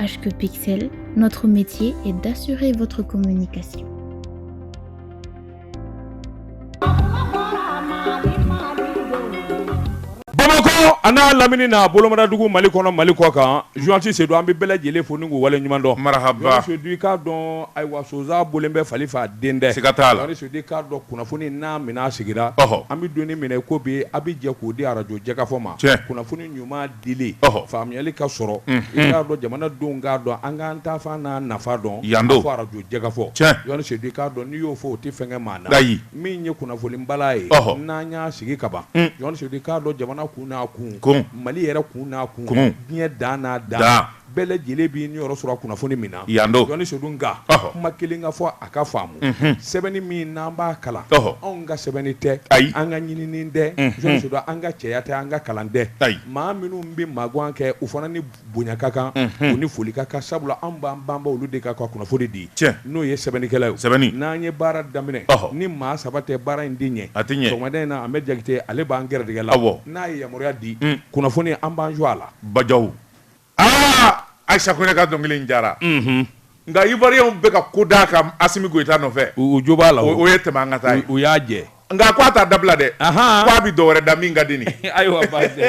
HQ Pixel, notre métier est d'assurer votre communication. Bamakɔ an'a lamini na bolomadadugu mali kɔnɔ mali kɔkan journaliste sedu an bɛ bɛɛ lajɛlen fo ni k'u wale ɲuman dɔn marahaba sedu i k'a dɔn ayiwa sonsan bɔlen bɛ fali fɛ a den tɛ siga t'a la sedu i k'a dɔn kunnafoni n'a minɛn sigira ɔhɔ an bɛ don min na i ko bi an bɛ jɛ k'o di arajo jɛkafɔ ma tiɲɛ kunnafoni ɲuman dili faamuyali ka sɔrɔ i k'a dɔn jamanadenw k'a dɔn an k'an taafan n'an nafan dɔn fo arajo jɛkafɔ sedu i k'a dɔn n'i y'o fɔ o tɛ fɛn kɛ maa na ayi min ye kunnafoni bala ye n'an y'a sigi ka ban sedu i k'a dɔn jamana kun n'a kun mali yɛrɛ kun n'a kun diɲɛ dan n'a dan bɛɛ lajɛlen b'i niyɔrɔ sɔrɔ kunnafoni min na yan do journaliste Sedu nka ɔhɔ kuma kelen ka fɔ a ka faamu unhun sɛbɛnni min n'an b'a kalan ɔhɔ anw ka sɛbɛnni tɛ ayi an ka ɲinini tɛ unhun journaliste Sedu an ka cɛya tɛ an ka kalan tɛ ayi maa minnu bɛ magan kɛ u fana ni bonya ka kan unhun u ni foli ka kan sabula anw b'an banba olu de kan ka kunnafoni di tiɲɛ n'o ye sɛbɛnnikɛlaw ye o sɛbɛnni n'an ye baara daminɛ ɔhɔ ni maa saba tɛ baara in tɛ ɲɛ a tɛ ɲɛ sɔgɔmada in na Ahmed Jakite ale b'an gɛrɛdɛgɛ la awɔ n'a ye yamaruya di un kunnafoni an b'an jɔ a la bajaw aa Ayisa Kone ka dɔnkili in diyara nka Ivoiriyɛnw bɛ ka ko d'a kan Asimi Goyita nɔfɛ u jo b'a la o ye tɛmɛ an ka taa ye u y'a jɛ nka ko a t'a dabila dɛ ko a bɛ dɔ wɛrɛ da min ka di nin ayiwa baasi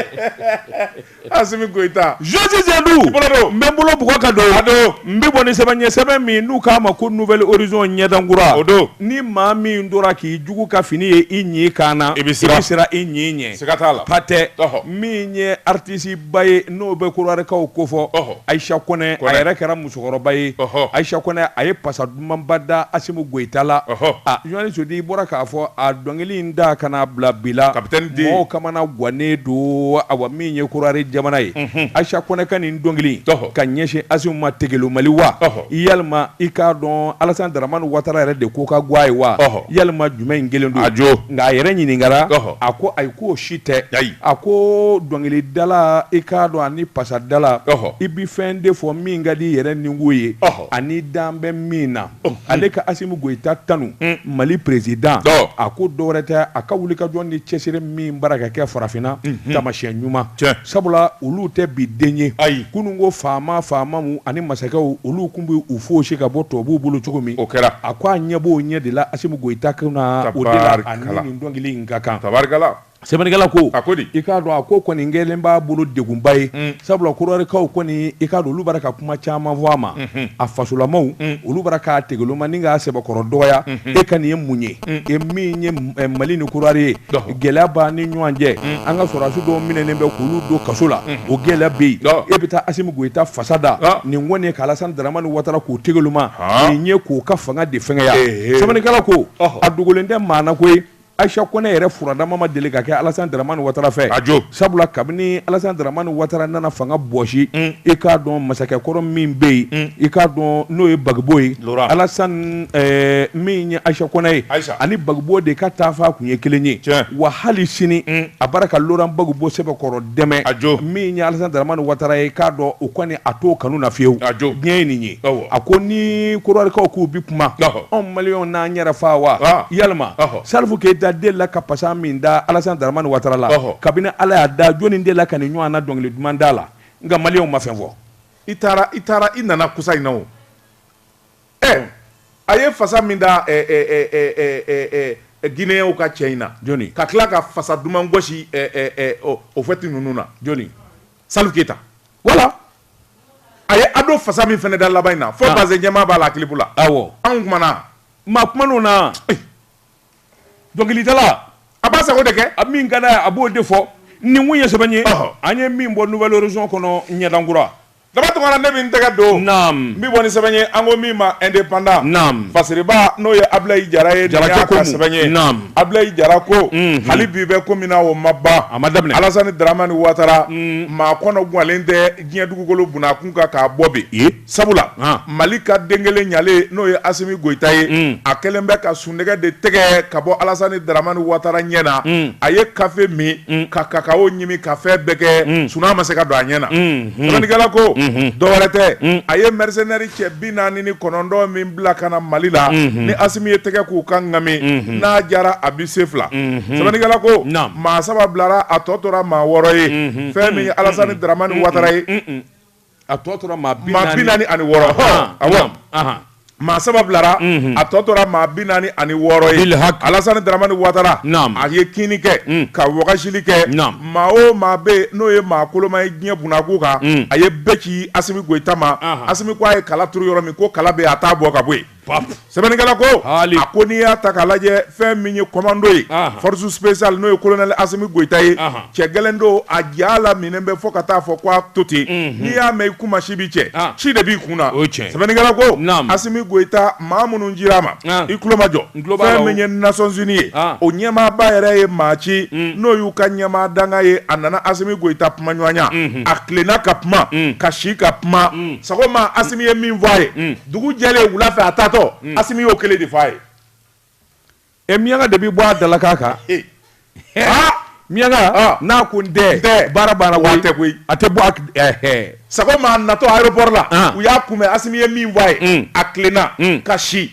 Asimi Goyita journaliste Sedu i bolo don n bɛ n bolo bugɔ ka don a don n bɛ bɔ ni sɛbɛn ye sɛbɛn min n'u k'a ma ko Nouvel Horizon ɲɛdan kura o don ni maa min tora k'i jugu ka fini ye i ɲi kan na i bɛ siran i ɲi ɲɛ siga t'a la pati min ye artiste ba ye n'o bɛ kɔdiwarikaw kofɔ ayisa kɔnɛ a yɛrɛ kɛra musokɔrɔba ye ayisa kɔnɛ a ye pasa dumanba da asimi goyita la journaliste sedu i bɔra k'a fɔ a dɔnkili in da kana bila bila maaw kamanagannen don awa min ye kɔdiwari jamana ye ayisa kɔnɛ ka nin dɔnkili ka ɲɛsin asimi ma tigɛli mali wa walima i k'a dɔn alasani dramani watara yɛrɛ de ko ka go a ye wa walima jumɛn in kɛlen don a jɔ nka a yɛrɛ ɲininkara a ko ayi k'o si tɛ ayi a ko dɔnkilidala i k'a dɔn ani pasadala i bɛ fɛn de fɔ min ka di i yɛrɛ ninkun ye ani dan bɛ min na ale ka asimi goyita tanu mali président a ko dɔwɛrɛ tɛ a ka wulikajɔ ni cɛsiri min b'a ra ka kɛ farafinna taamasiyɛn ɲuman sabula olu tɛ bi den ye ayi kunun ko faama faamaw ani masakɛw olu kun bɛ u fɔsi ka bɔ tubabuw bolo cogo min o kɛra a ko a ɲɛ b'o ɲɛ de la asimi goyita kan na o de la a nin dɔnkili in ka kan tabarikala sɛbɛnnikɛla ko a ko di i k'a dɔn a ko kɔni kɛlen b'a bolo degunba ye mm. sabula kɔdiwarikaw kɔni i k'a dɔn olu bara ka kuma caman fɔ a ma mm-hmm. a fasolamaw mm. olu bara k'a tegeloma ni k'a sɛbɛkɔrɔ dɔgɔya mm-hmm. e ka nin ye mun ye mm. e min ye eh, mali ni kɔdiwari ye gɛlɛya b'a ni ɲɔgɔn cɛ an ka sɔrɔdasi dɔw minɛnen bɛ k'olu don kaso la o gɛlɛya bɛ yen e bɛ taa asimi goyita fasa da ah. nin kɔni ye ka alasani daramani watara k'o tegeloma ah. nin ye k'o ka fanga de fɛngɛya sɛbɛnnikɛla ko a dogolen tɛ maa na koyi Ayisa kɔnɛ yɛrɛ furadama ma deli ka kɛ alasani dramani watara fɛ aj sabula kabini alasani dramani watara nana fanga bɔsi i k'a dɔn masakɛ kɔrɔ min bɛ yen i k'a dɔn n'o ye bagibo ye alasani min ye ayisa kɔnɛ ye ani bagibo de ka taafan tun ye kelen ye wa hali sini a bara ka loran bagibo sɛbɛkɔrɔ dɛmɛ aj min ye alasani dramani watara ye k'a dɔn o kɔni a t'o kanu na fewu aj diɲɛ ye nin ye a ko ni kɔdiwarikaw k'u bɛ kuma anw maliyɛnw n'an yɛrɛ faa wa yalima salifu keyita de la ka pasa min da alasani dramani watara la kabini ala y'a da jɔnni de la ka nin ɲɔgɔn na dɔnkili duman da la nka maliyɛnw ma fɛn fɔ i taara i taara i nana kɔsa in na o ɛ a ye fasa min da gineyɛnw ka cɛ in na jɔn ka tila ka fasa duman gosi o fɛti ninnu na jɔn salifu keyita wala a ye ado fasa min fana da laban in na fo ah. bazɛn jɛman b'a la kilipu la awɔ ah, anw kumana maa kuman'o na eh. dɔnkilidala a b'a sago de kɛ a min ka d'a ye a b'o de fɔ nin tun ye sɛbɛn ye an ye min bɔ nouvel horizon kɔnɔ ɲɛdankura daba tunkara ne bɛ n tɛgɛ don naam n bɛ bɔ ni sɛbɛn ye an ko min ma indépendant naam fasiriba n'o ye abilayi jara ye jara y'a ka sɛbɛn ye naam abilayi jara ko mhm. hali bi bɛ ko min na o ma ban a ma daminɛ alasani daramani watara mm. maa kɔnɔ gwanlen tɛ diɲɛ dugukolo bunakun kan k'a bɔ bi yen sabula mali ka den kelen ɲalen n'o ye asimi goyita ye a kɛlen bɛ ka sunɔgɔ de tɛgɛ ka bɔ alasani dramani watara ɲɛ na a ye kafe min ka kakawo ɲimi ka fɛn bɛɛ kɛ sunaa ma se ka don a ɲɛ na sɛbɛnnikɛla ko dɔwɛrɛ tɛ a ye mɛrisenɛri cɛ bi naani ni kɔnɔntɔn min bila ka na mali la ni asimi ye tɛgɛ k'u ka ŋami n'a jara a bi se fila sɛbɛnnikɛla ko maa saba bilara a tɔ tora maa wɔɔrɔ ye fɛn min ye alasani dramani watara ye a tɔ tora maa bi naani ani wɔɔrɔ a maa saba bilara a tɔ tora maa bi naani ani wɔɔrɔ ye alasani dramani watara a ye kinni kɛ ka wagasili kɛ maa o maa bɛ n'o ye maa koloma ye diɲɛ bunakun kan a ye bɛɛ ci asimi goyita ma asimi ko a ye kala turu yɔrɔ min ko kala bɛ a t'a bɔ ka bɔ yen sɛbɛnnikɛla ko a ko n'i y'a ta k'a lajɛ fɛn min ye kɔmando ye force spéciale n'o ye kolonɛli asimi goyita ye cɛ gɛlɛn don a ja la minɛn bɛ fɔ ka taa fɔ k' a to ten n'i y'a mɛn i kuma si bɛ cɛ ci de b'i kun na o cɛ sɛbɛnnikɛla ko asimi goyita maa minnu cira a ma i tulomajɔ fɛn min ye nations unies ye o ɲɛmaaba yɛrɛ ye maa ci n'o y'u ka ɲɛmaa dankan ye a nana asimi goyita kumaɲɔgɔnya a tilenna ka kuma ka si ka kuma sɔgɔma asimi ye min fɔ a ye dugu jɛlen wula fɛ a taatɔ hmm. asimi y'o kelen de fɔ a ye ɛ miyanka de bɛ bɔ a dalakan kan aa miyanka n'a ko n tɛ baara banna koyi a tɛ koyi a tɛ bɔ a ɛɛ sɔgɔma a natɔ aéroport la u y'a kunbɛn asimi ye min fɔ a ye hmm. a tilenna hmm. ka si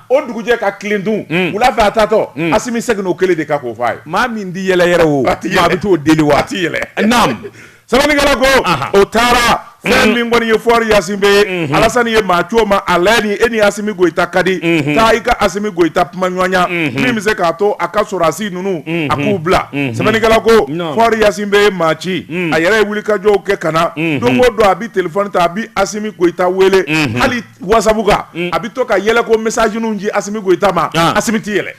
o dugujɛ ka tilen dun wula fɛ a taatɔ asimi seginna o kelen de kan k'o fɔ a ye maa min tɛ yɛlɛ yɛrɛ o maa bɛ t'o deli wa a tɛ yɛlɛ naam sɛbɛnnikɛla ko o taara fɛn mm. min kɔni ye fɔri ɲasingbe ye mm-hmm. alasani ye maa ci o ma a lajɛ ni e ni asimi goyita ka di mm-hmm. taa i ka asimi goyita kumaɲɔgɔnya mm-hmm. min bɛ se k'a to a ka sɔrɔdasi ninnu a k'u bila sɛbɛnnikɛla ko fɔri ɲasingbe ye maa ci mm. a yɛrɛ ye wulikajɔw kɛ ka na don o don a bɛ telefɔni ta a bɛ asimi goyita wele hali wasabu kan mm. a bɛ to ka yɛlɛko mesaziniw ci asimi goyita ma ah. asimi tɛ yɛlɛ.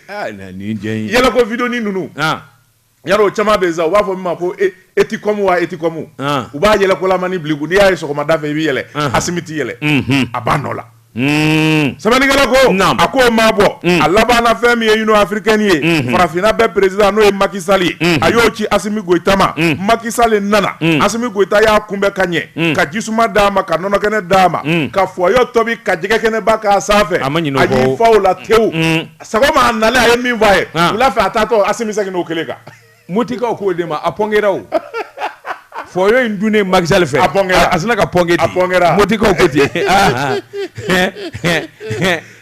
yɛlɛko vidéo ni ninnu ya o caman bɛ sa u b'a fɔ min ma ko e, eticom wa eticom u b'a yɛlɛkolamani bil'i kun n'i y'a ye sɔgɔmada fɛ i bɛ yɛlɛ asimi tɛ yɛlɛ mhm. a b'a nɔ la hmm. sɛbɛnnikɛla ko a ko o maa bɔ hmm. a labanna fɛn min ye union africaine ye hmm. farafinna bɛɛ perezidan n'o ye maki sali ye a y'o ci asimi goyita ma maki sali nana asimi goyita y'a kunbɛn ka ɲɛ ka jisuma d'a ma ka nɔnɔkɛnɛ d'a ma ka foyo tobi ka jɛgɛkɛnɛba k'a sanfɛ a y'i fa o la tewu sɔgɔma a nalen a ye min fɔ a ye wula fɛ a taatɔ asimi seginn'o kelen kan mɔtikaw k'o de ma a pɔnkɛ o foyo in dunnen maki sali fɛ a a sina ka pɔnkɛ a mɔtikaw ko ten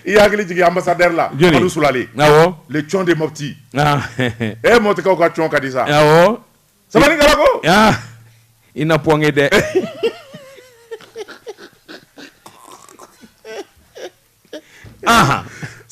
i hakili jigin ambassadeur la sulalen cɔn de mɔti e mɔtikaw ka cɔn ka di sa sɛbɛnnikɛla ko ah i na pɔnkɛ dɛ aha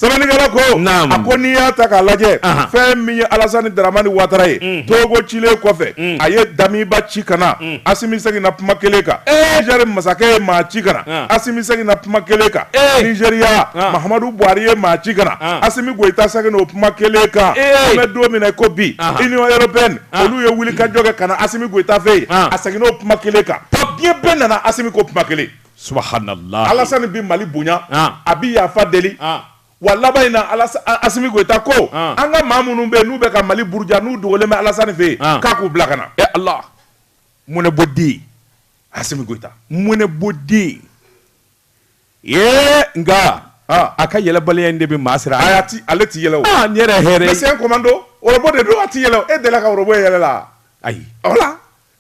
sɛbɛnnikɛla ko Naam. a ko n'i y'a ta k'a lajɛ Aha. fɛn min ye alasani daramani watara ye togo cilen kɔfɛ a ye damiba ci ka na asimi seginna kuma kelen kan nizɛri masakɛ ye maa ci ka na Ah. asimi seginna kuma kelen kan Eh. nizɛriya Ah. mahamadu buhari ye maa ci ka na Ah. asimi Goyita seginna o kuma kelen kan an bɛ don min na ko bi Union européenne olu ye wulikajɔ kɛ ka na Asimi Goyita fɛ yen a seginna o kuma kelen kan diɲɛ bɛɛ nana Asimi ko kuma kelen subhanallah Alasani bɛ mali bonya a bɛ yafa deli wa laban in na Asimi Goyita ko an ka maa minnu bɛ n'u bɛ ka mali buruja n'u dogolen bɛ Alasani fɛ yen k'a k'u bila ka na e ala mɔnɛbɔ den Asimi Goyita mɔnɛbɔ den Ee nka a ka yɛlɛbaliya in de bɛ maa siran ale tɛ yɛlɛ n yɛrɛ hɛrɛ e c'est un komando ɔrɔbɔ de don a tɛ yɛlɛ e delila ka ɔrɔbɔ ye yɛlɛ la ayi voilà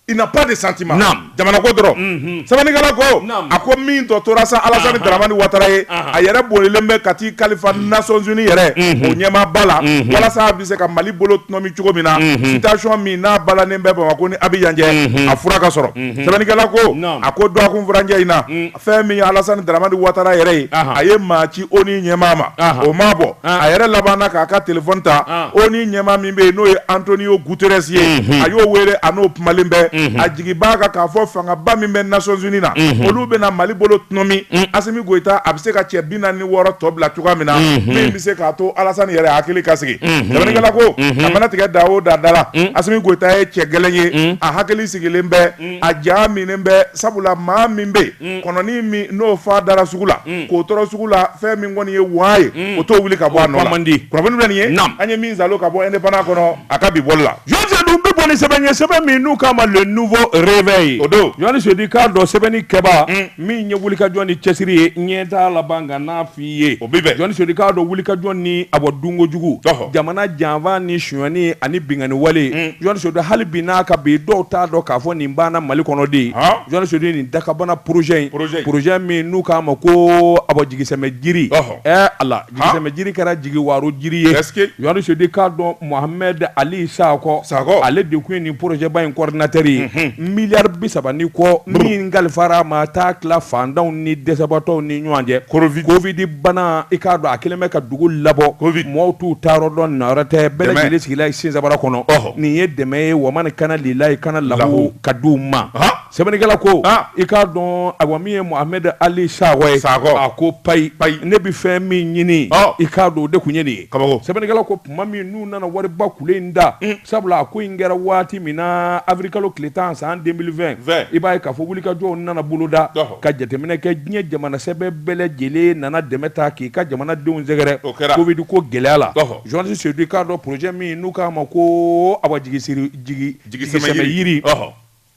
il n'a pas de sentiment jamana ko dɔrɔn sɛbɛnnikɛla ko a ko min tɔ tora sa Alasani Daramani Watara ye a yɛrɛ bolilen bɛ ka t'i kalifa Nations Unies yɛrɛ o ɲɛmaa ba la walasa a bɛ se ka mali bolo tɔnɔmi cogo min na situation min n'a balanen bɛ Bamako ni Abidjan cɛ a fura ka sɔrɔ sɛbɛnnikɛla ko a ko dɔgɔkun furancɛ in na fɛn min ye Alassane Dramane Ouattara yɛrɛ ye, anhan, a ye maa ci ONU ɲɛmaa ma, anhan, o m'a bɔ, an, a yɛrɛ labanna k'a ka téléphone ta, an, ONU ɲɛmaa min bɛ yen n'o ye Antonio Guterres ye, unhun, a y'o wele a n'o kumalen bɛ, unhun, a jigi b'a kan k'a fɔ fangaba min bɛ Nations Unies na, unhun, olu bɛna Mali bolo tɔnɔmi, un, Assimi Goïta a bɛ se ka cɛ 46 tɔ bila cogoya min na, unhun, min bɛ se k'a to Alassane yɛrɛ hakili ka sigi, unhun, sɛbɛnnikɛla ko, unhun, a mana tigɛ da o da da la, un, Assimi Goïta ye cɛ gɛlɛn ye, un, a hakili sigilen bɛ a ja minɛnen bɛ sabula maa min bɛ mm. kɔnɔnin min n'o fan dara sugu la mm. k'o tɔrɔ sugu la fɛn min kɔni ye waa ye mm. o t'o wuli ka bɔ a nɔ la kunnafoni bɛ nin ye an ye min sɔrɔ ka bɔ Indépendant kɔnɔ a ka bi bɔli la journaliste Sedu bɛ bɔ ni sɛbɛn ye sɛbɛn min n'u k'a ma Le Nouveau Réveil o don journaliste Sedu i k'a dɔn sɛbɛnni kɛba min ye wulikajɔ ni cɛsiri ye ɲɛ t'a laban ka n'a ye o bɛ journaliste Sedu i k'a dɔn wulikajɔ ni a bɔ dunko jugu jamana janfa ni sonyani ani binkanni wale mm. journaliste Sedu hali bi n'a ka bi dɔw t'a dɔn k'a fɔ nin banna mali kɔnɔ de journaliste Sedu nin dakabana projet in projet min n'u k'a ma ko a bɔ jigisɛmɛ jiri ɛ Ala jigisɛmɛ jiri kɛra jigi waro jiri ye journaliste Sedu i k'a dɔn Mohamed Ali Sakɔ Sakɔ ale de tun ye nin projet ba in coordinateur ye milliard bi saba ni kɔ min kalifara a ma taa tila fantanw ni dɛsɛbaatɔw ni ɲɔgɔn cɛ Covid Covid bana i k'a dɔn a kɛlen bɛ ka dugu labɔ Covid mɔgɔw t'u taa yɔrɔ dɔn na yɔrɔ tɛ bɛɛ lajɛlen sigila ye Sensabara kɔnɔ ɔhɔ nin ye dɛmɛ ye wamani kana lilayi kana lahu ka di u ma sɛbɛnnikɛla ko i k'a dɔn awa min ye Mohamed Ali Sakɔ ye Sakɔ a ko payi payi ne bɛ fɛn min ɲini i k'a dɔn o de tun ye nin ye kabako sɛbɛnnikɛla ko tuma min n'u nana wariba kule in da sabula a ko in kɛra waati min na avril kalo tile tan san 2020 Vɛ. i b'a ye k'a fɔ wulikajɔw nana boloda Ɔhɔ. ka jateminɛ kɛ diɲɛ jamana sɛbɛ bɛɛ lajɛlen nana dɛmɛ ta k'i ka jamanadenw sɛgɛrɛ O kɛra. covid ko gɛlɛya la Ɔhɔ. journaliste sedu i k'a dɔn projet min n'u k'a ma ko awa jigi siri jigi Jigi sɛmɛ yiri. Ɔhɔ.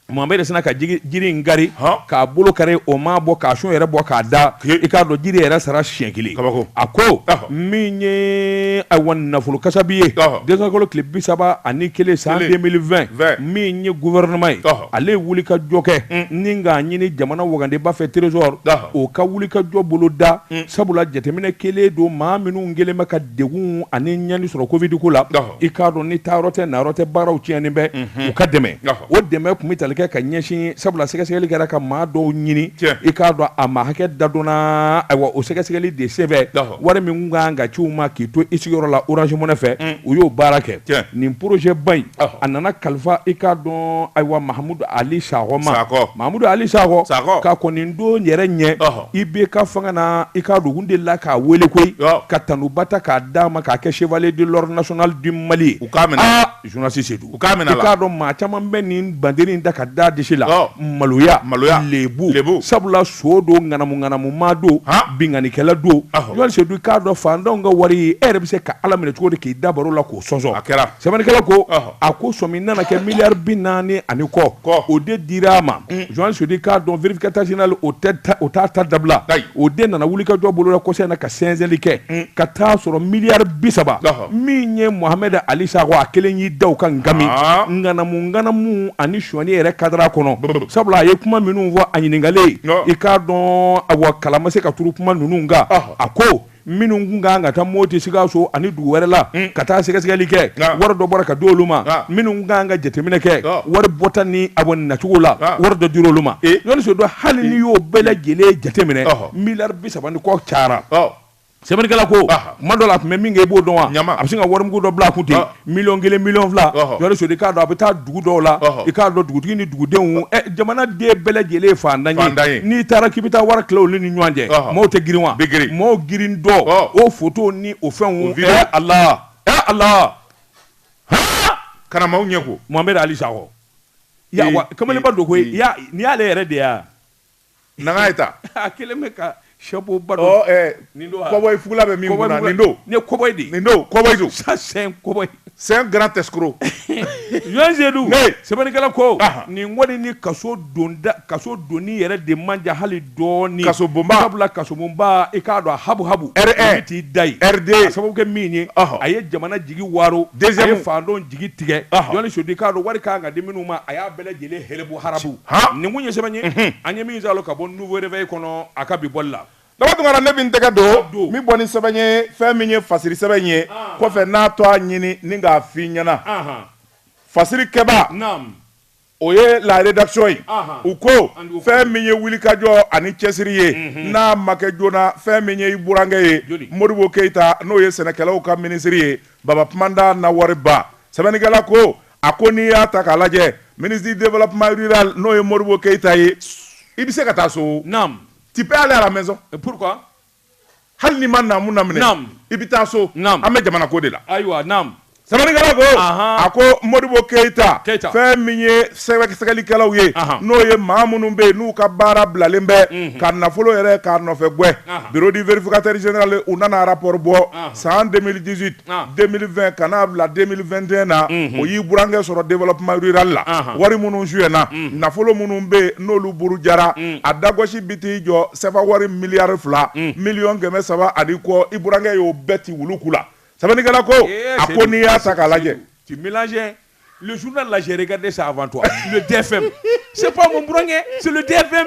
Mahamudu sina ka jiri in kari k'a bolo kari o ma bɔ k'a sun yɛrɛ bɔ k'a da i k'a dɔn jiri yɛrɛ sara siɲɛ kelen a ko min ye awa nafolo kasabi ye desanburukalo tile bi saba ani kelen san 2020 min ye gouvernement ye ale ye wulikajɔ kɛ ni k'a ɲini jamana wagandeba fɛ trésor o ka wulikajɔ boloda sabula jateminɛ kelen don maa minnu kelen bɛ ka degun ani ɲani sɔrɔ covid ko la i k'a dɔn ni taayɔrɔ tɛ nayɔrɔ tɛ baaraw tiɲɛnen bɛ u ka dɛmɛ o dɛmɛ kun bɛ tali kɛ ka ɲɛsin sabula sɛgɛsɛgɛli kɛra ka maa dɔw ɲini i k'a dɔn a maa hakɛ da dɔnna ayiwa o sɛgɛsɛgɛli de senfɛ wari min kan ka ci u ma k'i to i sigiyɔrɔ la Orange Money fɛ u y'o baara kɛ nin projet ba in a nana kalifa i k'a dɔn ayiwa Mahamudu Ali Sakɔ ma Mahamudu Ali Sakɔ ka kɔni don yɛrɛ ɲɛ IBK fanga na i k'a dɔn u delila k'a weele koyi ka tanuba ta k'a d'a ma k'a kɛ chevalier de l'ordre national du Mali u k'a minɛ Seydou k'a dɔn maa caman bɛ nin banderi da k'a da disi la maloya maloya lebu lebu sabula son don ŋanamuŋanamu maa don binkannikɛla don jɔn Seydou k'a dɔn faantanw ka wari e yɛrɛ bɛ se ka ala minɛ cogo di k'i da baro la k'o sɔnsɔn a kɛra sɛbɛnnikɛla ko a ko sɔmi nana kɛ miliyari bi naani ani kɔ k'o de dira a ma jɔn Seydou k'a dɔn vérificateur général o t'a ta dabila o de nana wulikajɔ boloda kɔsɛbɛ in na ka sɛnsɛnli kɛ ka taa a sɔrɔ miliyari bi saba min ye Mohamed Ali Sakɔ a kelen y'i da o kan k'a min ŋanamuŋanamu ani sonyani yɛrɛ kadara kɔnɔ sabula a ye kuma minnu fɔ a ɲininkalen i k'a dɔn awa kala ma se ka turu kuma ninnu kan a ko minnu tun kan ka taa Moti Sikaso ani dugu wɛrɛ la ka taa sɛgɛsɛgɛli kɛ wari dɔ bɔra ka di olu ma minnu kan ka jateminɛ kɛ wari bɔta ni a bɔ nacogo la wari dɔ dira olu ma jɔnni Seydou hali n'i y'o bɛɛ lajɛlen jateminɛ miliyari bi saba ni kɔ cayara sɛbɛnnikɛla ko tuma dɔ la a tun bɛ min kɛ i b'o dɔn wa a bɛ se ka warimugu dɔ bila a kun ten miliyɔn kelen miliyɔn fila jɔnni Seydou k'a dɔn a bɛ taa dugu dɔw la i k'a dɔn dugutigi ni dugudenw jamanaden bɛɛ lajɛlen ye faantan ye n'i taara k'i bɛ taa wari tila olu ni ɲɔgɔn cɛ maaw tɛ girin wa maaw girin don o photo ni o fɛnw a la a la kara maaw ɲɛ ko Mohamed Ali Sakɔ kamalenba don koyi n'i y'ale yɛrɛ de yan Nana ye ta a kelen bɛ ka chapeau ba don nin don cowboy fugula bɛ min kun na nin don ne cowboy de nin don cowboy don ça c'est un cowboy c'est un grand escroc jɔn Seydou sɛbɛnnikɛla ko nin kɔni ni kaso donni yɛrɛ de man jan hali dɔɔnin kaso bonba sabula kasobonba i k'a dɔn habu habu t'i da ye riden sababu kɛ min ye a ye jamana jigi waaro a ye faantanw jigi tigɛ Seydou k'a dɔn wari kun kan ka di minnu ma a y'a bɛɛ lajɛlen habu habu nin ye sɛbɛn ye an ye min sɔrɔ ka bɔ nouveau réveil kɔnɔ a ka bi bɔli la daba tunkara ne bɛ n tɛgɛ don n bɛ bɔ ni sɛbɛn ye fɛn min ye fasiri sɛbɛn ye kɔfɛ n'a tɔ a ɲini ni k'a f'i ɲɛna fasirikɛba o ye la rédaction ye u ko fɛn min ye wulikajɔ ani cɛsiri ye n'a ma kɛ joona fɛn min ye i burankɛ ye modibo keyita n'o ye sɛnɛkɛlaw ka minisiri ye babada na wariba sɛbɛnnikɛla ko A ko n'i y'a ta k'a lajɛ ministre du développement rural n'o ye Modibo Keyita ye, i bɛ se ka taa so, naamu, tu peux aller à la maison, et pourquoi hali n'i ma naamu laminɛ, naamu, i bɛ taa so, naamu, an bɛ jamana ko de la, ayiwa, naamu, sɛbɛnnikɛla ko, anhan, a ko Modibo Keyita, Keyita, fɛn min ye sɛgɛsɛgɛlikɛlaw ye, anhan, n'o ye maa minnu bɛ yen n'u ka baara bilalen bɛ, unhun, ka nafolo yɛrɛ k'a nɔfɛ gɛn, anhan, bureau du vérificateur général u nana rapport bɔ, anhan, san 2018 ka n'a bila den na o y'i burankɛ sɔrɔ denlapli la wari minnu su na nafolo minnu bɛ yen n'olu buru jara a dasi bɛ t'i jɔ saba wari miliyari fila miliy kɛmɛ saba ani kɔ i burankɛ y'o bɛɛ tɛ wulu la sabaliigala ko a ko n'i y'a ta k'a lajɛ lajɛz lajɛ ka de sa a tɛ fɛn se bkɛ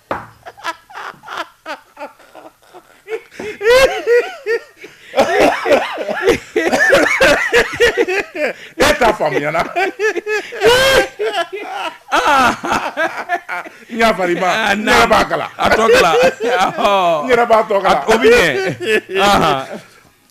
e t'a faamuya na n y'a fari ma n yɛrɛ b'a kalan a tɔ kalan n yɛrɛ b'a tɔ kalan o bɛ ɲɛ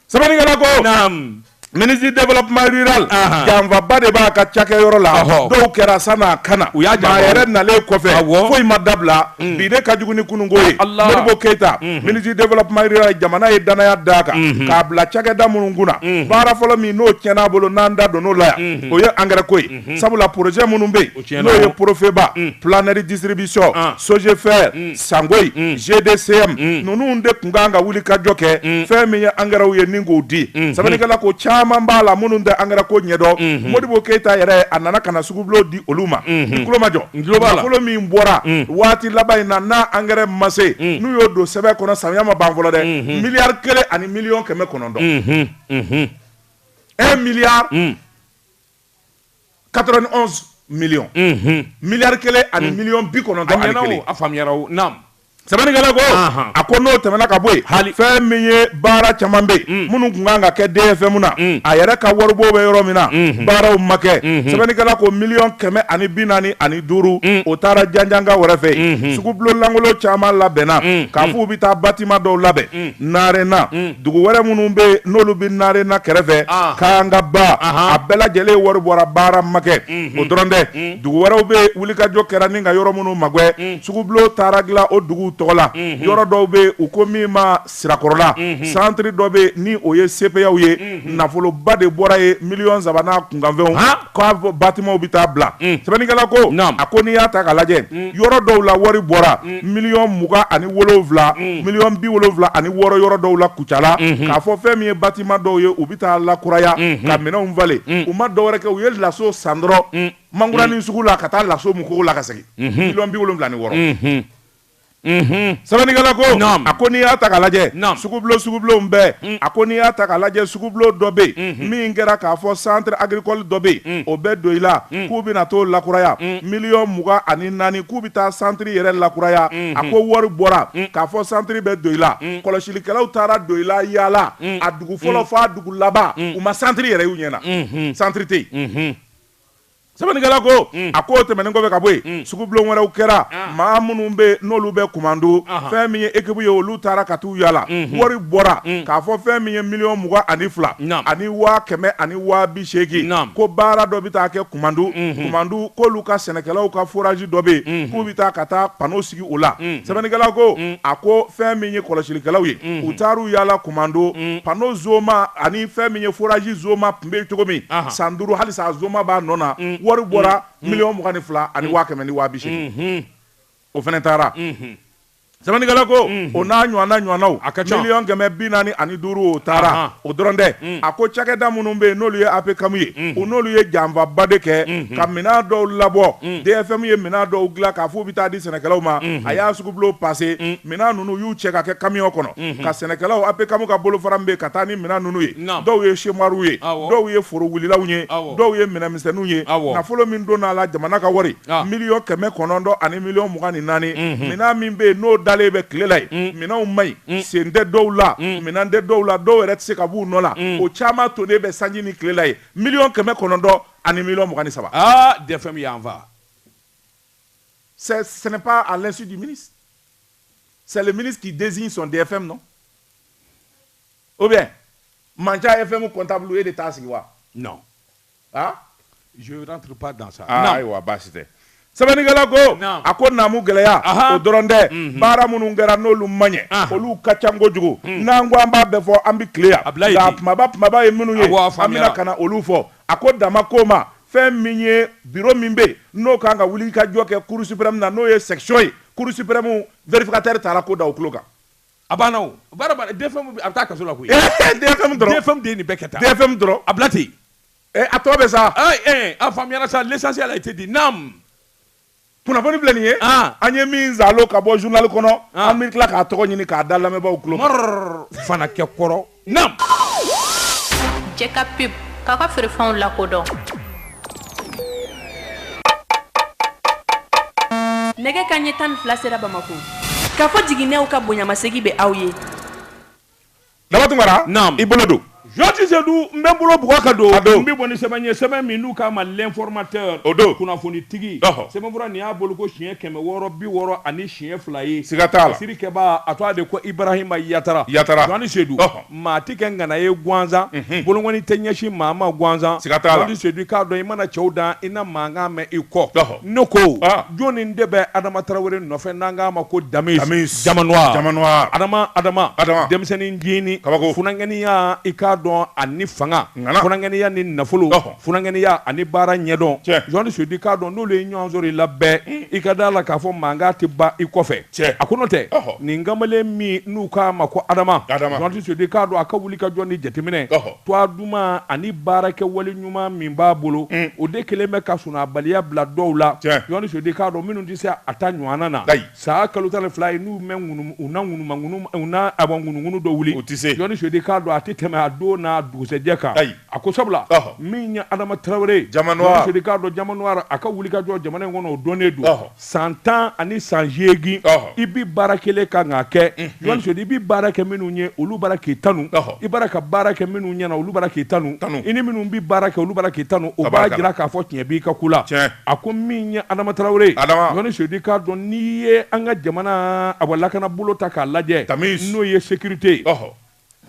sɛbɛnnikɛla ko naam ministre du développement rural Ahan. janfaba de b'a ka cakɛyɔrɔ la Ahɔ. dɔw kɛra san'a ka na U y'a janfa. a yɛrɛ nalen kɔfɛ Awɔ. foyi ma dabila bi de ka jugu ni kununko ye Allah. modibo keyita ministre du développement rural jamana ye danaya d'a kan k'a bila cakɛda minnu kunna baara fɔlɔ min n'o tiɲɛn'a bolo n'an da donn'o la yan o ye angɛrɛ ko ye sabula projet minnu bɛ O yen tiɲɛna n'o ye o. profeba planète distribution Ah. sogefer sangoyi GDCM ninnu de tun kan ka wulikajɔ kɛ fɛn min ye angɛrɛw ye ni k'o di sɛbɛnnikɛla ko caman b'a la minnu tɛ angɛrɛ ko ɲɛdɔn modibo keyita yɛrɛ a nana ka na sugubulon di olu ma i tulo majɔ nafolo min bɔra waati laban in na n'a angɛrɛ ma se n'u y'o don sɛbɛn kɔnɔ samiya ma ban fɔlɔ dɛ miliyari kelen ani miliyɔn kɛmɛ kɔnɔntɔn un milliard quatre-vingt-onze millions miliyari kelen ani miliyɔn bi kɔnɔntɔn sɛbɛnnikɛla ko a ko n'o tɛmɛna ka bɔ yen fɛn min ye baara caman bɛ yen minnu tun kan ka kɛ DFM na a yɛrɛ ka waribɔ bɛ yɔrɔ min na baaraw ma kɛ sɛbɛnnikɛla ko miliyɔn kɛmɛ ani bi naani ani duuru o taara janjanga wɛrɛ fɛ sugubulon lankolon caman labɛnna k'a fɔ u bɛ taa bâtiment dɔw labɛn narena dugu wɛrɛ minnu bɛ yen n'olu bɛ narena kɛrɛfɛ kangaba a bɛɛ lajɛlen wari bɔra baara makɛ o dɔrɔn tɛ dugu wɛrɛw bɛ wulikajɔ kɛra ni ka yɔrɔ minnu magɛ sugubulon taara dilan o dugu tɔgɔ la yɔrɔ dɔw bɛ u ko min ma sirakɔrɔla santiri dɔ bɛ ni o ye sepeyaw ye nafoloba de bɔra ye miliyɔn saba n'a kunkanfɛnw batimanw bɛ taa bila sɛbɛnnikɛla ko a ko n'i y'a ta ka lajɛ yɔrɔ dɔw la wari bɔra miliyɔn mugan ani wolowula miliyɔn bi wolowula ani wɔɔrɔ yɔrɔ dɔw la kucala k'a fɔ fɛn min ye batiman dɔw ye u bɛ taa lakuraya ka minɛnw falen u ma dɔwɛrɛ kɛ u ye laso san dɔrɔn mangurani sugu la ka taa laso mukogo la ka segin miliyɔn bi wolowula ni wɔɔrɔ sɛbɛnnikɛla ko a ko n'i y'a ta ka lajɛ sugubulonw bɛɛ a ko n'i y'a ta ka lajɛ sugubulon dɔ bɛ yen min kɛra k'a fɔ centre agricole dɔ bɛ yen o bɛ doyila k'u bɛna t'o lakuraya miliyɔn mugan ani naani k'u bɛ taa centre yɛrɛ lakuraya a ko wari bɔra k'a fɔ centre bɛ doyila kɔlɔsilikɛlaw taara doyila yaala a dugu fɔlɔ f'a dugu laban u ma centre yɛrɛ y'u ɲɛ na centre tɛ yen. sɛbɛnnikɛla ko mm. a ko tɛmɛnen kɔfɛ ka bɔ yen mm. sugubulon wɛrɛw kɛra ah. maa minnu bɛ n'olu bɛ kumando fɛn min ye ekipu ye olu taara ka t'u yaala mm-hmm. wari bɔra mm. k'a fɔ fɛn min ye miliyɔn mugan ani fila ani waa kɛmɛ ani waa bi seegin ko baara dɔ bɛ taa kɛ kumando mm-hmm. kumando k'olu ka sɛnɛkɛlaw ka forazi dɔ bɛ yen mm-hmm. k'u bɛ taa ka taa pano sigi o la sɛbɛnnikɛla ko a ko fɛn min ye kɔlɔsilikɛlaw ye u taar'u yaala kumando pano zoma ani fɛn min ye forazi zoma tun bɛ cogo min san duuru halisa zoma b'a nɔ na wari bɔra miliyɔn mugan ni fila ani waa kɛmɛ ni waa bi seegin o fana taara sɛbɛnnikɛla ko o n'a ɲɔgɔnnaw miliyɔn kɛmɛ bi naani ani duuru o taara o dɔrɔn tɛ a ko cakɛda minnu bɛ yen n'olu ye apcam ye o n'olu ye janfaba de kɛ ka minɛn dɔw labɔ dfm ye minɛn dɔw dilan k'a fɔ u bɛ taa di sɛnɛkɛlaw ma a y'a sugubulon pase minɛn ninnu y'u cɛ ka kɛ kamiyɔn kɔnɔ ka sɛnɛkɛlaw apcam ka bolofara min bɛ yen ka taa ni minɛn ninnu ye dɔw ye semuwari ye dɔw ye foro wulilaw ye dɔw ye minɛnmisɛnninw ye nafolo min donna a la jamana ka wari miliyɔn kɛmɛ kɔnɔntɔn ani miliyɔn mugan ni naani minɛn min bɛ yen n'o dalen bɛ tile la yen minɛnw man ɲi sen tɛ dɔw la minɛn tɛ dɔw la dɔw yɛrɛ tɛ se ka b'u nɔ la o caman tonnen bɛ sanji ni tile la ye miliyɔn kɛmɛ kɔnɔntɔn ani miliyɔn mugan ni saba dfm bɛ janfa ce n'est pas à l'insu du ministre c'est le ministre qui désigne son dfm non ou bien manca dfm comptable e de t'a sigi wa non ah je rentre pas dans ça ah, ayiwa baasi tɛ sɛbɛnnikɛla ko a ko naamu gɛlɛya o dɔrɔn tɛ mhm. baara minnu kɛra n'olu ma ɲɛ olu ka ca kojugu mhm. n'an ko an b'a bɛɛ fɔ an bɛ tile yan nka kunbaba kunbaba ye minnu ye an bɛna ka na olu fɔ a ko dama ko ma fɛn min ye biro min bɛ yen n'o kan ka wulikajɔ kɛ cour suprême na n'o ye section ye cour suprême vérificateur taara ko da o tulo kan A bɛ taa kaso la koyi DFM dɔrɔn DFM de ye nin bɛɛ kɛ tan DFM dɔrɔn a bila ten a tɔ bɛ sa a faamuyara sa l'essentiel a été dit naam kunnafoni filɛ nin ye an ye min zalo ka bɔ journal kɔnɔ an bɛ tila k'a tɔgɔ ɲini k'a da lamɛnbaaw tulo kan fana kɛ kɔrɔ Naam. Jɛ ka pub k'aw ka feerefɛnw lakodɔn. Nɛgɛ kanɲɛ tan ni fila sera Bamako. Kafo Jiginɛw ka bonyamasegin bɛ aw ye. Daba Tunkara. Naam. I bolo don. Joati Seydou, n bɛ n bolo bugɔ ka don. A don. N bɛ bɔ ni sɛbɛn ye, sɛbɛn min n'u k'a ma l'informateur. O don. Kunnafonitigi. Ɔhɔ. Sɛbɛnfura nin y'a boloko siɲɛ kɛmɛ wɔɔrɔ bi wɔɔrɔ ani siɲɛ fila ye siga t'a la siri kɛbaa a tɔgɔ de ko ibrahima yatara yatara Jɔni Seydou maa ti kɛ ngana ye gansan mhm. bolonkɔni tɛ ɲɛsin maa ma gansan siga t'a la Jɔni Seydou i k'a dɔn i mana cɛw dan i na mankan mɛn i kɔ ne ko ah. jɔnni de bɛ adama tarawele nɔfɛ n'an k'a ma ko damis damis diamant noir diamant noir adama adama adama denmisɛnnin jini kabako funankɛniya i k'a dɔn ani fanga funankɛniya ni nafolo Funankɛniya ani baara ɲɛdɔn Jɔni Seydou i k'a dɔn n'olu ye ɲɔgɔn sɔrɔ i la bɛɛ i ka d'a la k'a fɔ mankan tɛ ban i kɔfɛ cɛ a ko n'o tɛ nin kamalen min n'u k'a ma ko adama Jɔni Seydou i k'a dɔn a ka wuli ka jɔ ni jateminɛ tɔgɔ duman ani baarakɛ wale ɲuman min b'a bolo o de kelen bɛ ka sunɔgɔbaliya bila dɔw la Jɔni Seydou i k'a dɔn minnu tɛ se a ta ɲɔgɔnna na San kalo tan ni fila ye n'u mɛn u na ŋunuŋunu dɔ wuli u tɛ se Jɔni Seydou i k'a dɔn a tɛ tɛmɛ a don n'a dugusɛjɛ kan ayi a ko sabula min ye adama tarawele Jɔni Seydou i k'a dɔn diamant noir a ka wuli ka jɔ jamana in kɔnɔ o donnen don san tan ani san segin i bɛ baara kelen kan k'a kɛ Jɔni Seydou i bɛ baara kɛ minnu ye olu bara k'i tanu i bara ka baara kɛ minnu ɲɛ na olu bara k'i tanu tanu i ni minnu bɛ baara kɛ olu bara k'i tanu o b'a jira k'a fɔ tiɲɛ b'i ka ku la A ko min ye Adama Tarawele ye, Adama, Jɔni Seydou i k'a dɔn n'i ye an ka jamana a lakana bolo ta k'a lajɛ, Damis, n'o ye sécurité ye, ɔhɔ,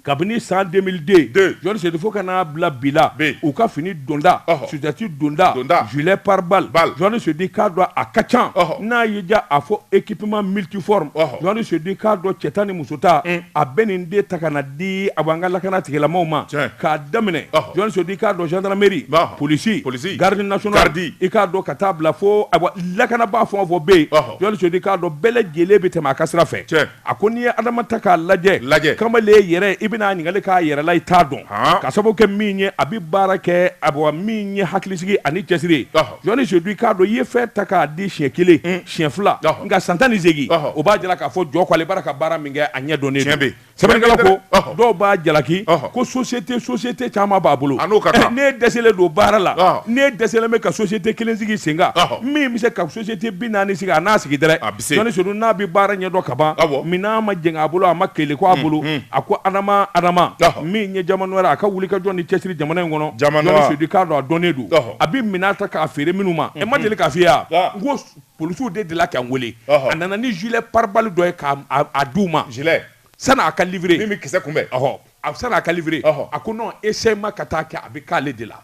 kabini san 2002, 2, Jɔni Seydou fo ka n'a bila bi la, bi, u ka fini donta, ɔhɔ, sutɛti donta, donta, gilet pare-balle, balle, Jɔni Seydou i k'a dɔn a ka ca, ɔhɔ, n'a y'i diya a fɔ équipement multiforme, ɔhɔ, Jɔni Seydou i k'a dɔn cɛ ta ni muso ta a bɛ nin de ta ka na di awa an ka lakana tigilamaw ma k'a daminɛ Jɔni Seydou i k'a dɔn gendarmerie polisi polisi garde nationale garde i k'a dɔn ka taa bila fo a lakanabaa fɛn o fɛn bɛ yen Jɔni Seydou i k'a dɔn bɛɛ lajɛlen bɛ tɛmɛ a ka sira fɛ a ko n'i ye adama ta k'a lajɛ lajɛ kamalen yɛrɛ i bɛna ɲininkali k'a yɛrɛ la i t'a dɔn k'a sababu kɛ min ye a bɛ baara kɛ a min ye hakilisigi ani cɛsiri Jɔni Seydou i k'a dɔn i ye fɛn ta k'a di siɲɛ kelen siɲɛ fila nka san tan ni segin o b'a jira k'a fɔ jɔ k'ale bara ka baara min kɛ a ɲɛ dɔnnen don sɛbɛnnikɛla ko dɔw b'a jalaki ko société société caman b'a bolo ne dɛsɛlen don baara la ne dɛsɛlen bɛ ka société kelen sigi sen kan min bɛ se ka société bi naani sigi a n'a sigi dɛ Seydou n'a bɛ baara ɲɛdɔn ka ban minɛn ma jɛngɛ a bolo a ma keleku a bolo a ko adama adama min ye Jamanoir a ka wuli ka jɔ ni cɛsiri jamana in kɔnɔ Jɔni Seydou k'a dɔn a dɔnnen don a bɛ minɛn ta k'a feere minnu ma e ma deli k'a fɔ i ye ko polisiw delila k'an weele a nana ni gilet pare-balles dɔ ye k'a di u ma sani a ka livrer min bɛ kisɛ kunbɛn sani a ka livrer a ko essayement ka taa kɛ a bɛ k'ale de la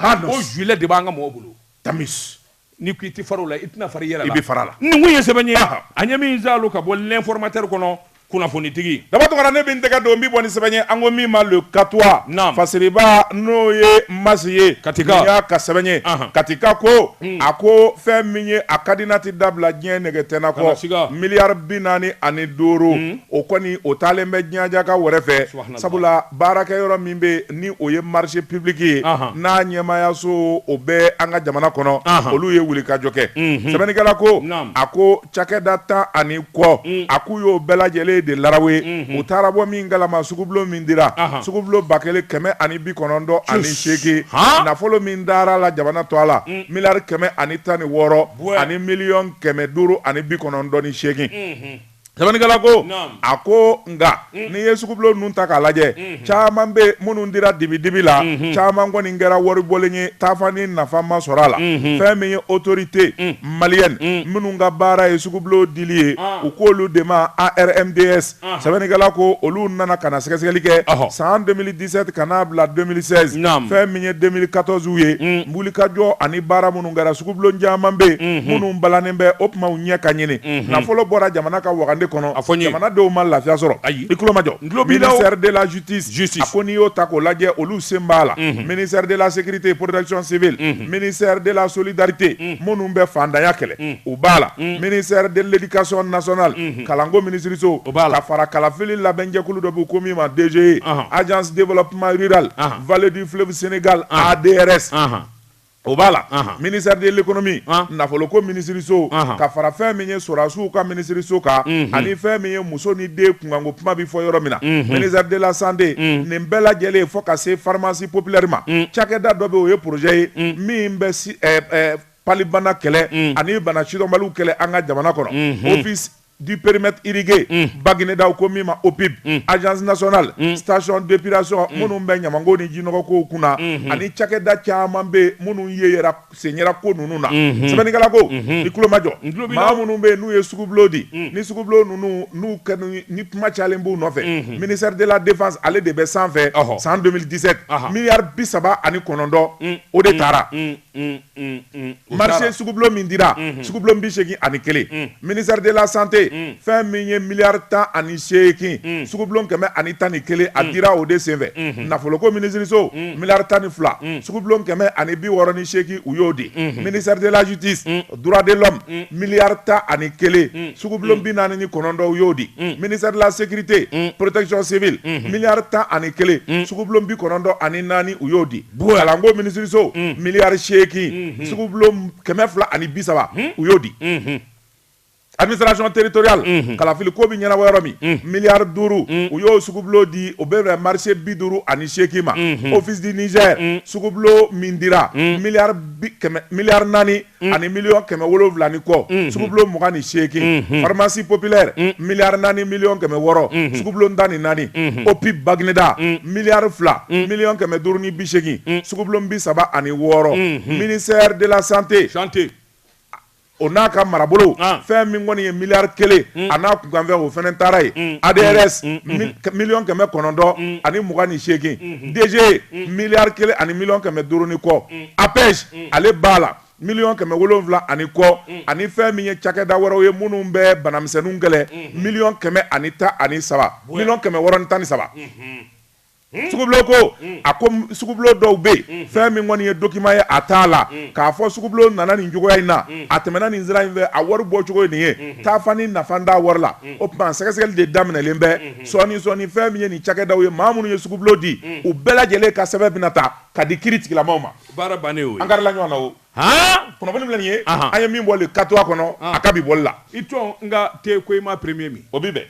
o gilet de b'an ka mɔgɔw bolo tami ni ko i tɛ fara la i tɛna fari yɛrɛ i bɛ fara la nin ye sɛbɛn ye an ye min kalan ka bɔ l'Informateur kɔnɔ kunnafonitigi Daba Tunkara ne bɛ n tɛgɛ don n bɛ bɔ ni sɛbɛn ye an ko min ma Le Katois Fasiriba n'o ye Masi ye Katika y'a ka sɛbɛn ye Katika ko a ko fɛn min ye a ka di n'a tɛ dabila diɲɛ nɛgɛ tɛna kɔ miliyari bi naani ani duuru o kɔni o taalen bɛ Ɲaja ka wɛrɛ fɛ Sabula baarakɛ yɔrɔ min bɛ yen ni o ye marché public ye n'a ɲɛmaayaso o bɛ an ka jamana kɔnɔ olu ye wulikajɔ kɛ sɛbɛnnikɛla ko a ko cakɛda tan ani kɔ a k'u y'o bɛɛ lajɛlen de larawe u taara bɔ min kalama sugubulon min dira sugubulon ba kelen kɛmɛ ani bi kɔnɔntɔn ani seegin nafolo min dara la jamana to a la miliyari kɛmɛ ani tan ni wɔɔrɔ ani miliyɔn kɛmɛ duuru ani bi kɔnɔntɔn ni seegin. Sɛbɛnnikɛla ko a ko nka n'i ye sugubulon ninnu ta k'a lajɛ caman bɛ minnu dira dibi dibi la caman kɔni kɛra waribɔlen ye taafa ni nafa ma sɔrɔ a la fɛn min ye autorité malienne minnu ka baara ye sugubulon dili ye u k' olu de ma ARMDS sɛbɛnnikɛla ko olu nana ka na sɛgɛsɛgɛli kɛ san 2017 ka n'a bila 2016 fɛn min ye 2014 u ye wulikajɔ ani baara minnu kɛra sugubulon caman bɛ yen minnu balannen bɛ o tuma u ɲɛ k'a ɲini nafolo bɔra jamana ka wagande kɔnɔ a fɔ jamanadenw ma lafiya sɔrɔ ayi i tulomajɔ tulo b'i la ministère de la justice a ko n'i y'o ta k'o lajɛ olu sen b'a la ministère de la sécurité et protection civile mini seri dela soli darite minnu bɛ faantanya kɛlɛ u b'a la ministère de l'éducation nationale kalanko minisiririso o b'a la fara kalafili labɛnjɛkulu dɔ bɛ ko min ma DGE agence développement rural vallée du fleuve Sénégal ADRS O b'a la ministère de l'économie nafolo ko minisiririso ka fara fɛn min ye sɔrɔdasiw ka minisiririso kan ani fɛn min ye muso ni den kunkan ko kuma bɛ fɔ yɔrɔ min na ministère de la santé nin bɛɛ lajɛlen fo ka se pharmacie populaire ma cakɛda dɔ bɛ o ye projet ye min bɛ palibana kɛlɛ ani bana sidɔnbaliw kɛlɛ an ka jamana kɔnɔ du périmètre irrigué mm. Baguineda ko min ma OPIB mm. agence nationale mm. station d'épuration mm. minnu bɛ ɲamanko ni jinɔgɔ kow kunna mm -hmm. ani cakɛda caman bɛ minnu yeyera sen yera ko ninnu na mm -hmm. sɛbɛnnikɛla ko mm -hmm. i tulomajɔ maa minnu bɛ n'u ye sugubulon di mm. ni sugubulon ninnu n'u kɛnu ni kuma cayalen b'u nɔfɛ mm -hmm. ministère de la défense ale de bɛ sanfɛ oh. san 2017 uh -huh. miliyari bi saba ani kɔnɔntɔn mm. o de taara mm. marché sugubulon min dira sugubulon bi seegin ani kelen ministère de la santé fɛn min ye miliyari tan ani seegin sugubulon kɛmɛ ani tan ni kelen a dira o de senfɛ nafoloko minisiriso miliyari tan ni fila sugubulon kɛmɛ ani bi wɔɔrɔ ni seegin u y'o di ministère de la justice droit de l'homme miliyari tan ani kelen sugubulon bi naani ni kɔnɔntɔn u y'o di ministère de la sécurité protection civile miliyari tan ani kelen sugubulon bi kɔnɔntɔn ani naani u y'o di Kalanko minisiriso miliyari seegin sugubulon kɛmɛ fila ani bi saba u y'o di administration territoriale kalafili ko bɛ ɲɛnabɔ yɔrɔ min miliyari duuru u y'o sugubulon di o bɛ marché bi duuru ani seegin ma office du Niger sugubulon min dira miliyari naani Mm. ani miliyɔn kɛmɛ wolonwula ni kɔ mm-hmm. sugubulon mugan ni seegin mm-hmm. pharmacie populaire mm. miliyari naani miliyɔn kɛmɛ wɔɔrɔ mm-hmm. sugubulon tan ni naani opib bagineda mm. miliyari fila miliyɔn kɛmɛ duuru ni bi seegin sugubulon bi saba ani wɔɔrɔ ministère de la santé o n'a ka marabolo ah. fɛn min kɔni ye miliyari kelen mm. a n'a kunkanfɛn o fana taara ye mm. adrs mm. mm-hmm. miliyɔn kɛmɛ kɔnɔntɔn ani mugan ni seegin mm-hmm. dg miliyari kelen ani miliyɔn kɛmɛ duuru ni kɔ apej mm. ale b'a la miliyɔn kɛmɛ wolonwula ani kɔ mm. ani fɛn min ye cakɛda wɛrɛw ye minnu bɛ banamisɛnninw kɛlɛ mm-hmm. miliyɔn kɛmɛ ani tan ani saba miliyɔn kɛmɛ wɔɔrɔ ni tan ni saba mm-hmm. Hmm? sugubulo ko hmm. a ko sugubulo dɔw bɛ yen hmm. fɛn min kɔni ye dokiman ye a t'a la k'a fɔ sugubulo nana nin cogoya in na a tɛmɛna nin sira in fɛ a wari bɔ cogo ye nin ye taafa ni nafa t'a wari la o tuma sɛgɛsɛgɛli de daminɛlen bɛ sɔɔni sɔɔni fɛn min ye nin cakɛdaw ye maa minnu ye sugubulo di u bɛɛ lajɛlen ka sɛbɛn bɛna ta ka di kiiri tigilamaaw ma baara bannen o ye an karila ɲɔgɔn na o han kunnafoni filɛ nin ye Ahan. an ye min bɔ Le Katois kɔnɔ Ahan. a ka bi bɔli la i tɔn n ka te ko i ma premier min o bi bɛn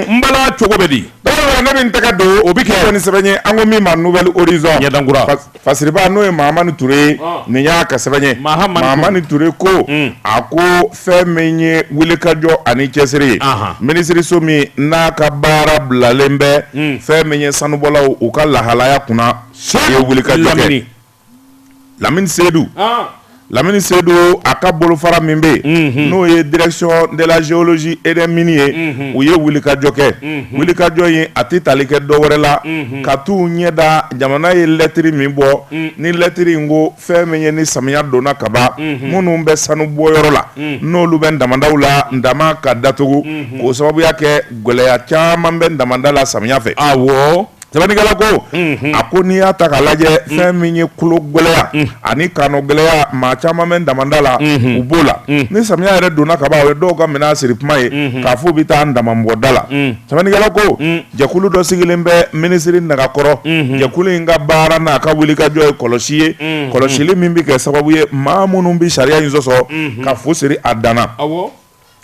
n bala cogo bɛ di Dɔgɔtɔrɔ, ne bɛ n tɛgɛ don o bɛ kɛ ni sɛbɛn ye an ko min ma nouvel horizon Ɲɛdankura. Fas- fasiriba n'o ye mahamani ture ye Ɔn. nin y'a ka sɛbɛn ye Mahamani Ture. mahamani ture ko a ko fɛn min ye wulikajɔ ani cɛsiri ye minisiriso min n'a ka baara bilalen bɛ hmm. fɛn min ye sanubɔlaw u ka lahalaya kunna o ye wulikajɔ kɛ lamini seyidu ah. lamini seyidu a ka bolofara min bɛ yen mhm. n'o ye direction de la géologie et des mines ye mhm. u ye wulikajɔ kɛ mhm. wulikajɔ in a tɛ tali kɛ dɔ wɛrɛ la ka t'u ɲɛ da jamana ye lɛtiri min bɔ ni lɛtiri in ko fɛn min ye ni samiya donna ka ban minnu bɛ sanubɔyɔrɔ la n'olu bɛ damandaw la daman ka datugu k'o sababuya kɛ gɛlɛya caman bɛ damanda la samiya fɛ awɔ sɛbɛnnikɛla ko a ko n'i y'a ta k'a lajɛ fɛn min ye kologɛlɛya ani kannagɛlɛya maa caman bɛ damanda la u b'o la ni samiya yɛrɛ donna ka ban o ye dɔw ka minɛn siri kuma ye k'a fɔ u bɛ taa daman mɔgɔ da la sɛbɛnnikɛla ko Jɛkulu dɔ sigilen bɛ minisiri nagakɔrɔ jɛkulu in ka baara n'a ka wulikajɔ ye kɔlɔsi ye kɔlɔsili min bɛ kɛ sababu ye maa minnu bɛ sariya in sɔsɔ ka fu siri a dan na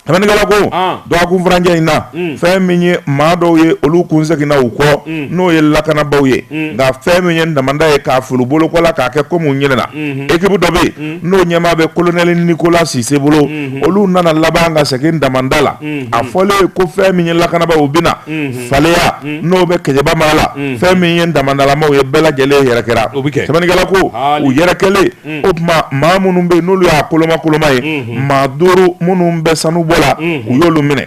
sɛbɛnnikɛla ko dɔgɔkun furancɛ in na fɛn min ye maa dɔw ye olu kun seginna u kɔ n'o ye lakanabaaw ye nka fɛn min ye damanda ye k'a fili bolo kɔ la k'a kɛ komi u ɲinɛna ekipu dɔ bɛ yen n'o ɲɛmaa bɛ kolonɛli Nikola Sise bolo olu nana laban ka segin damanda la a fɔlen ye ko fɛn min ye lakanabaaw bɛna Faleya n'o bɛ Kɛɲɛba mara la fɛn min ye damandalamaw ye bɛɛ lajɛlen yɛrɛkɛra o bɛ kɛ sɛbɛnnikɛla ko u yɛrɛkɛlen o tuma maa minnu bɛ n'olu y'a koloma koloma ye maa duuru minnu bɛ sanubɔ la u y'olu minɛ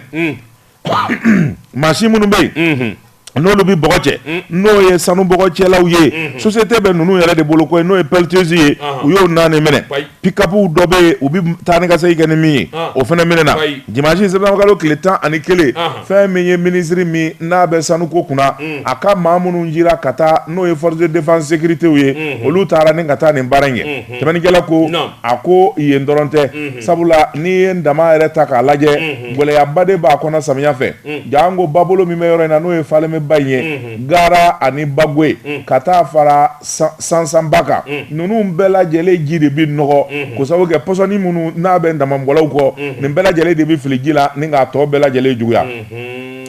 machine minnu bɛ yen n'olu bɛ bɔgɔ cɛ n'o ye sanu bɔgɔ cɛlaw ye société bɛ ninnu yɛrɛ de bolo koyi n'o ye pelleteuse ye u y'o naani minɛ pick-up dɔ bɛ yen u bɛ taa ni ka segin kɛ ni min ye o fana minɛna dimanche septembre kalo tile tan ani kelen fɛn min ye minisiri min n'a bɛ sanuko kunna a ka maa minnu jira ka taa n'o ye force de défense sécurité ye olu taara ni ka taa nin baara in kɛ sɛbɛnnikɛla ko a ko yen dɔrɔn tɛ sabula n'i ye daman yɛrɛ ta k'a lajɛ gɛlɛyaba de b'a kɔnɔ samiya fɛ Mm. janko babolo min bɛ yɔrɔ in na n'o ye Falemɛ ba in ye mm-hmm. Gara ani Bagoe mm. ka taa fara Sansanba kan mm. ninnu bɛɛ lajɛlen ji de bɛ nɔgɔ mm-hmm. k'o sabu kɛ pɔsɔni minnu n'a bɛ damamɔgɔlaw kɔ mm-hmm. nin bɛɛ lajɛlen de bɛ fili ji la ni k'a tɔ bɛɛ lajɛlen juguya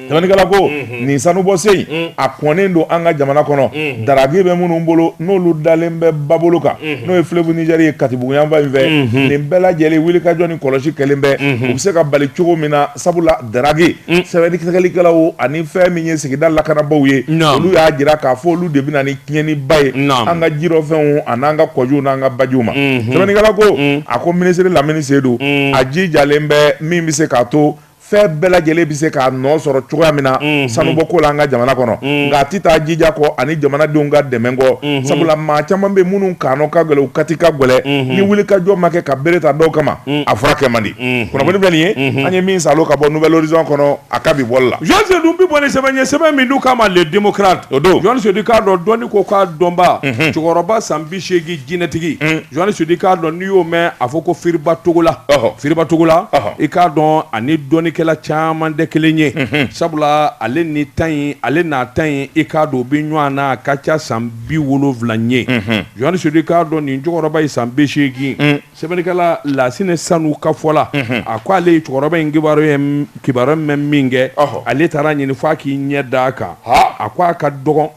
sɛbɛnnikɛla ko nin sanubɔsen in a kɔnnen don an ka jamana kɔnɔ daraki bɛ minnu bolo n'olu dalen bɛ babolo kan n'o ye fleuve Niger ye Katibugu yanfan in fɛ nin bɛɛ lajɛlen wulikajɔ ni kɔlɔsi kɛlen bɛ u bɛ se ka bali cogo min na sabula daraki mm. sɛgɛsɛgɛlikɛlaw ani fɛn min ye sigida lakanabaaw ye olu y'a jira k'a fɔ olu de bɛ na ni tiɲɛniba ye an ka jirɔfɛnw an'an ka kɔjiw n'an ka bajiw ma mhm. sɛbɛnnikɛla ko mm. a ko minisiri Lamini Sedu mm. a jijalen bɛ min bɛ se k'a to fɛn bɛɛ lajɛlen bɛ se k'a nɔ sɔrɔ cogoya min na mhm. sanubɔko la an ka jamana kɔnɔ mhm. nka a tɛ taa jija kɔ ani jamanadenw ka dɛmɛ kɔ mhm. sabula maa caman bɛ minnu kanɔ ka gɛlɛn u kati ka gɛlɛn ni wulikajɔ ma kɛ ka bere ta dɔw kama a fura kɛ man di Unhun. Kunnafoni filɛ nin ye. Unhun. An ye min salo ka bɔ Nouvel Horizon kɔnɔ, a ka bi bɔli la. Jɔn Seydu bɛ bɔ ni sɛbɛn ye sɛbɛn min n'u k'a ma Le Démocrate o don. Jɔn Seydu k'a dɔn dɔnni ko k'a dɔnbaa, Unhun. cɛkɔrɔba san 80 jinɛtigi, Un. Jɔn Seydu k'a dɔn n'i y'o mɛn a fɔ ko Firiba Togola, Ɔhɔ. Firiba Togola, Ɔhɔ. i k'a dɔn a ni dɔnnikɛla caman tɛ kelen ye, Unhun. sabula ale ni ta in ale n'a ta in i k'a dɔn u bɛ ɲɔgɔn na a ka ca san 70 ye, Unhun. Jɔn Seydu k'a dɔn nin cɛkɔrɔba ye san 80 Un. Sɛbɛnnikɛla Lasine Sanu ka fɔ la, unhun, a ko ale ye cɛkɔrɔba in kibaru ye kibaru mɛn min kɛ, ɔhɔ, ale taara a ɲini f'a k'i ɲɛ da a kan, haa, a ko a ka dɔgɔn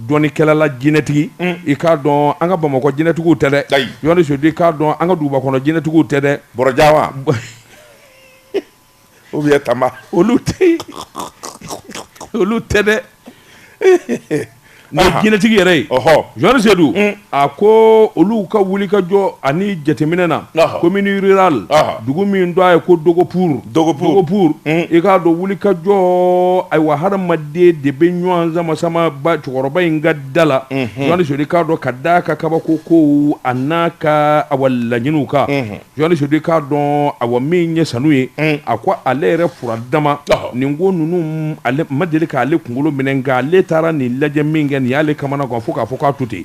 dɔnnikɛlala jinɛtigi, un, i k'a dɔn an ka Bamakɔ jinɛtigiw tɛ dɛ, ayi, Jɔn Seydu i k'a dɔn an ka dugubakɔnɔ jinɛtigiw tɛ dɛ, Bɔrɔjan wa? u bɛ tama olu tɛ olu tɛ dɛ mɛ jinɛtigi yɛrɛ ye Jon Seydu a ko olu ka wulikajɔ ani jateminɛ na commune rurale dugu min don a ye ko Dogo pour i k'a dɔn wulikajɔ ayiwa hadamaden de bɛ ɲɔgɔn sama ba cɛkɔrɔba in ka da la Jon Seydu k'a dɔn ka d'a ka kabako kow an'a ka awa laɲiniw kan Seydu k'a dɔn awa min ye Sanu ye a ko ale yɛrɛ fura dama nin ko ninnu ma deli k'ale kunkolo minɛ nka ale taara nin lajɛ min kɛ nin y'ale kamanagan fo k'a fɔ k'a to ten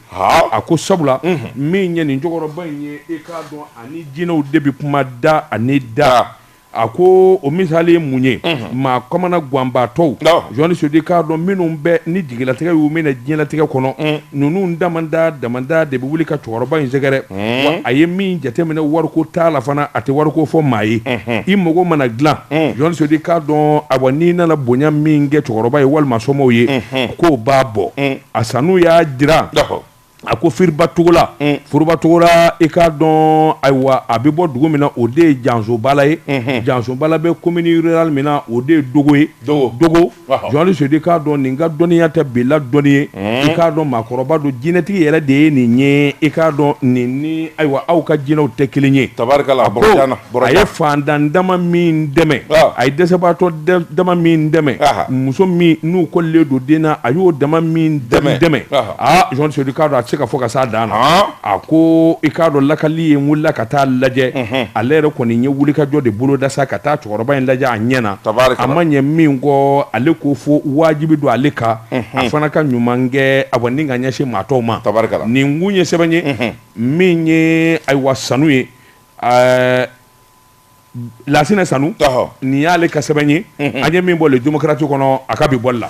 a ko sabula min ye nin cɛkɔrɔba in ye i k'a dɔn ani jinɛw de bɛ kuma da ani da a ko o misali ye mun ye maa kamanaganbaatɔw Jon Seydu k'a dɔn minnu bɛ ni jigilatigɛ y'u minɛ diɲɛlatigɛ kɔnɔ ninnu damana damana de bɛ wuli ka cɛkɔrɔba in sɛgɛrɛ wa a ye min jateminɛ wariko t'a la fana a tɛ wariko fɔ maa ye i mago mana dilan Jon Seydu k'a dɔn awa n'i nana bonya min kɛ cɛkɔrɔba ye walima somɔgɔw ye k'o b'a bɔ a Sanu y'a jira a ko Furubatogola Furubatogola i k'a dɔn ayiwa a bɛ bɔ dugu min na o de ye Jansobala ye Jansobala bɛ commune rurale min na o de ye Dogo ye Dogo Jon Seydu i k'a dɔn nin ka dɔnniya tɛ bila dɔnni ye i k'a dɔn maakɔrɔba don jinɛtigi yɛrɛ de ye nin ye i k'a dɔn nin ni ayiwa aw ka jinɛw tɛ kelen ye tabarikala a ye faantan dama min dɛmɛ a ye dɛsɛbaatɔ dama min dɛmɛ muso minnu kɔlilen don den na a y'o dama min dɛmɛ Aa Jon Seydu k'a dɔn a tɛ se ka fɔ ka s'a dan na, han, a ko i k'a dɔn lakali ye n wulila ka taa lajɛ, unhun, ale yɛrɛ kɔni n ye wulikajɔ de boloda sa ka taa cɛkɔrɔba in lajɛ a ɲɛ na, tabarikala, a ma ɲɛ min kɔ ale ko fo wajibi don ale kan, unhun, a fana ka ɲuman kɛ awa ni ka ɲɛsin maa tɔw ma, tabarikala, nin kun ye sɛbɛn ye, unhun, min ye ayiwa Sanu ye ɛɛ Lasina Sanu nin y'ale ka sɛbɛn ye an ye min bɔ Le Démocrate kɔnɔ a ka bi bɔli la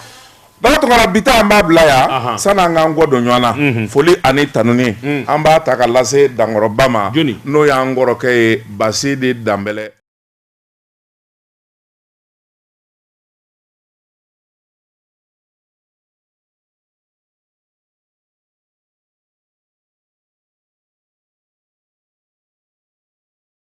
ba tɔgɔ bi an b'a bila yan san'an k'an kɔ don ɲɔgɔn na foli ani tanuni an b'a ta ka lase dankɔrɔba ma n'o y'an kɔrɔkɛ ye Basidi Danbɛlɛ